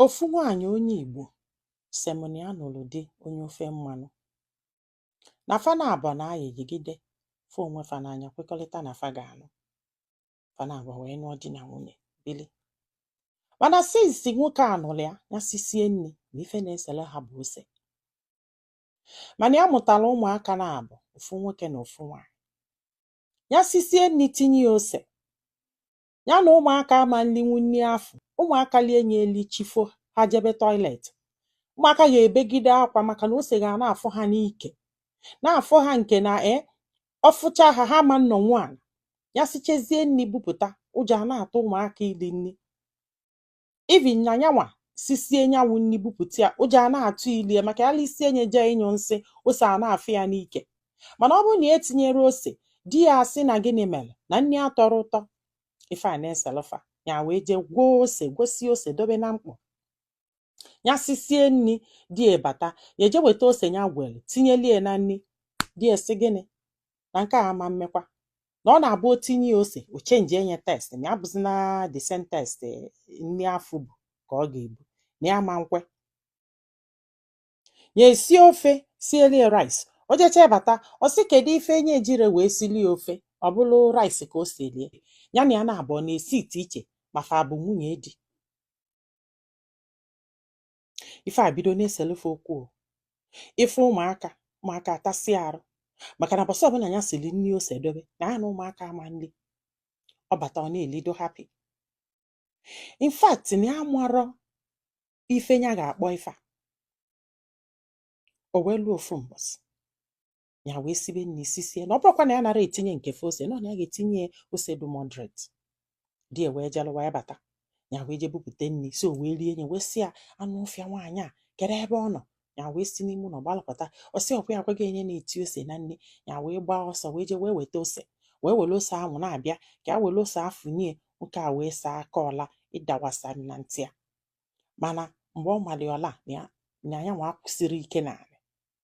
Ofu nwaanyị onye Igbo sị m na ya nụrụ di onye ofe mmanụ, na fa naabọ na-ayị yigide fụ onwe fa n'anya kwekọrịta na fa ga-anụ, fa naabọ wee nụọ di na nwunye bili. Mana since nwoke a nụrụ ya, ya sisie nri na ife na-esere ha bụ ose. Mana ya mụtara ụmụaka naabọ, ofu nwoke na ofu nwaanyị. Ya sisie nri tinye ya ose, ya na ụmụaka ama nlinwu nri afụ ụmụaka lie nye eli chi fo ha jebe toilet ụmụaka ga-ebegide akwa maka na ose ga na-afụ ha n'ike na-afụ ha nke na e ọ fụcha ha ha ama nnọ nwayọ ya sichezie nri bupụta ụjọ a na-atụ ụmụaka ili nri even na nyanwa sisie nyanwụ nri bupụta ya ụjọ a na-atụ ilie maka ya lisie nye jee ịnyụ nsị ose a na-afụ ya n'ike mana ọ bụrụ na etinyere ose di ya asị na gịnị mere na nri atọrọ ụtọ ife a na-eselụ fa ya wee jee gwoo ose gwosie ose dobe na mkpọ ya sisie nri di ya bata ya eje weta ose ya gwere tinyelie na nri di ya sị gịnị na nke a ama mmekwa na ọ na-abụ o tinye ya ose o change enye taste na ya bụzi na the same taste eh, nri afụ bụ ka ọ ga-ebu na ya ama nkwe ya esi ofe sielie rice o jecha bata ọ sị kedu ife enye ejire wee silie ofe ọ bụrụ rice ka o silie ya na ya na-abụ ọ na-esi ite iche ma fa bụ nwunye di ife a bido na-eselu fa okwu o. ị fụ ụmụaka ụmụaka atasị arụ maka na mbọsị ọbụla ya siri nri ose dobe na ya na ụmụaka ama nri ọ bata ọ na-elido happy in fact na ya marọ ife ya ga-akpọ ife a o wee luo ofu mbọsị ya wee sibe nri sisie na ọ bụrụkwa na ya nara etinye nke fe ose nọ na ya ga-etinye ose dị moderate di ya wee jalụwa ya bata ya wee je bupụta nri si o wee rie nye wee sị ya anụ ọfịa nwaanyị a kedu ebe ọ nọ ya wee si n'ime ụlọ gbalụ pụta ọ sị ọ kwa ya agwa gị enye na-eti ose na nri ya wee gbaa ọsọ wee je wee weta ose wee were ose ahụ na-abịa ka a were ose afụ nye nwoke a wee saa aka ọla ịdawasa na ntị ya mana mgbe ọ malị ọla na ya nwa kwụsịrị ike n'ala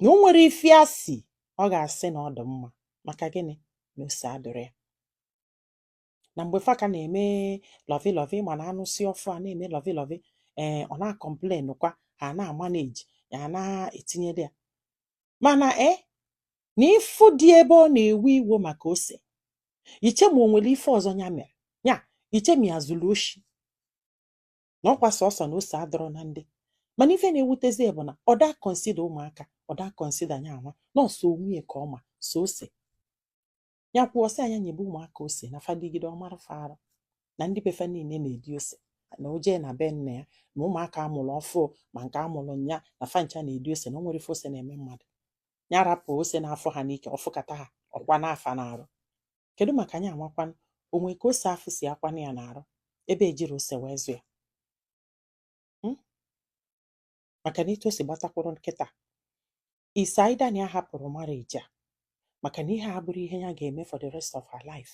na o nwere ife ya si ọ ga-asị na ọ dị mma maka gịnị na ose adịrị ya na mgbe fa ka na-eme lọvi lọvi ma na a nụsị ọfụụ a na-eme lọvi lọvi ee ọ na-complain kwa ha na-amanage ya na-etinyere ya mana e na ị fụ dị ebe ọ na-ewe iwo maka ose i chee ma o nwere ife ọzọ ya mere ya i chee ma ya zuru oshi na ọkwa sọsọ na ose adọrọ na nri mana ife na-ewutezi bụ na ọ da consider ụmụaka ọ da consider nya nwa nọọsụ onwe ka ọma so ose ya kwuo sị a nya nyebe ụmụaka ose na fa rigide ọ mara fa arụ na ndị befa niile na-eri ose na o jee na be nna ya na ụmụaka a mụrụ ọfụụ ma nke a mụrụ nya na fa ncha na-eri ose na o nwere ife ose na-eme mmadụ ya rapụ ose na-afụ ha n'ike ọ fụkata ha ọ kwana fa n'arụ kedu maka nya nwakwanụ o nwe ka ose afụ si akwanụ ya n'arụ ebe e jiri ose wee zụ ya hmm? maka na etu o si gbatakwuru kịta it's either na ya hapụrụ marriage a maka na ihe a abụrọ ihe ya ga-eme for the rest of her life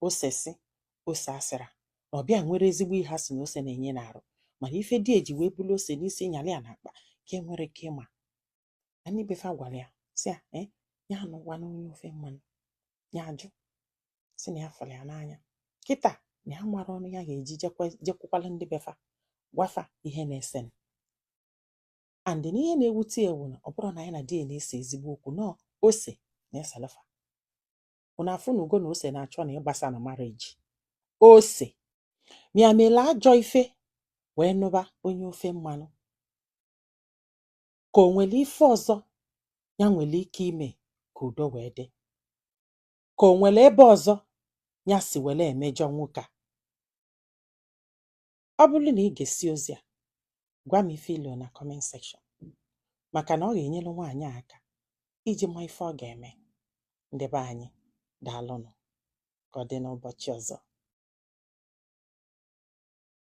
ose si ose asịra na ọ bịa nwere ezigbo ihe a sị na ose na-enye n'arụ mana ife di e ji wee bulu ose n'isi nyalị ya n'akpa ka e nwere ike ịma na ndị befa gwara ya sị ya eh, ya anụkwana onye ofe mmanụ ya ajụ sị na ya fụrụ ya n'anya kịta na ya amarọ ọnụ ya ga-eji jekwukwala ndị befa gwa fa ihe na-esenụ and na ihe na-ewute e wụ na ọ bụrọ na nya na di ya na-ese ezigbo okwu na ose na-esele fa ụnụ afụnugo na ose na-achọ na ịgbasa na marriage ọ sị ma ya mele ajọ ife wee nụba onye ofe mmanụ ka o nwere ife ọzọ ya nwere ike ime ka udo wee dị ka o nwere ebe ọzọ ya si were emejọ nwoke a ọ bụrụ na ị gesị ozi a gwa m ife i lo na comment section maka na ọ ga-enyere nwaanyị aka iji ma ife ọ ga-eme ndị be anyị daalụnụ ka ọ dị n'ụbọchị ọzọ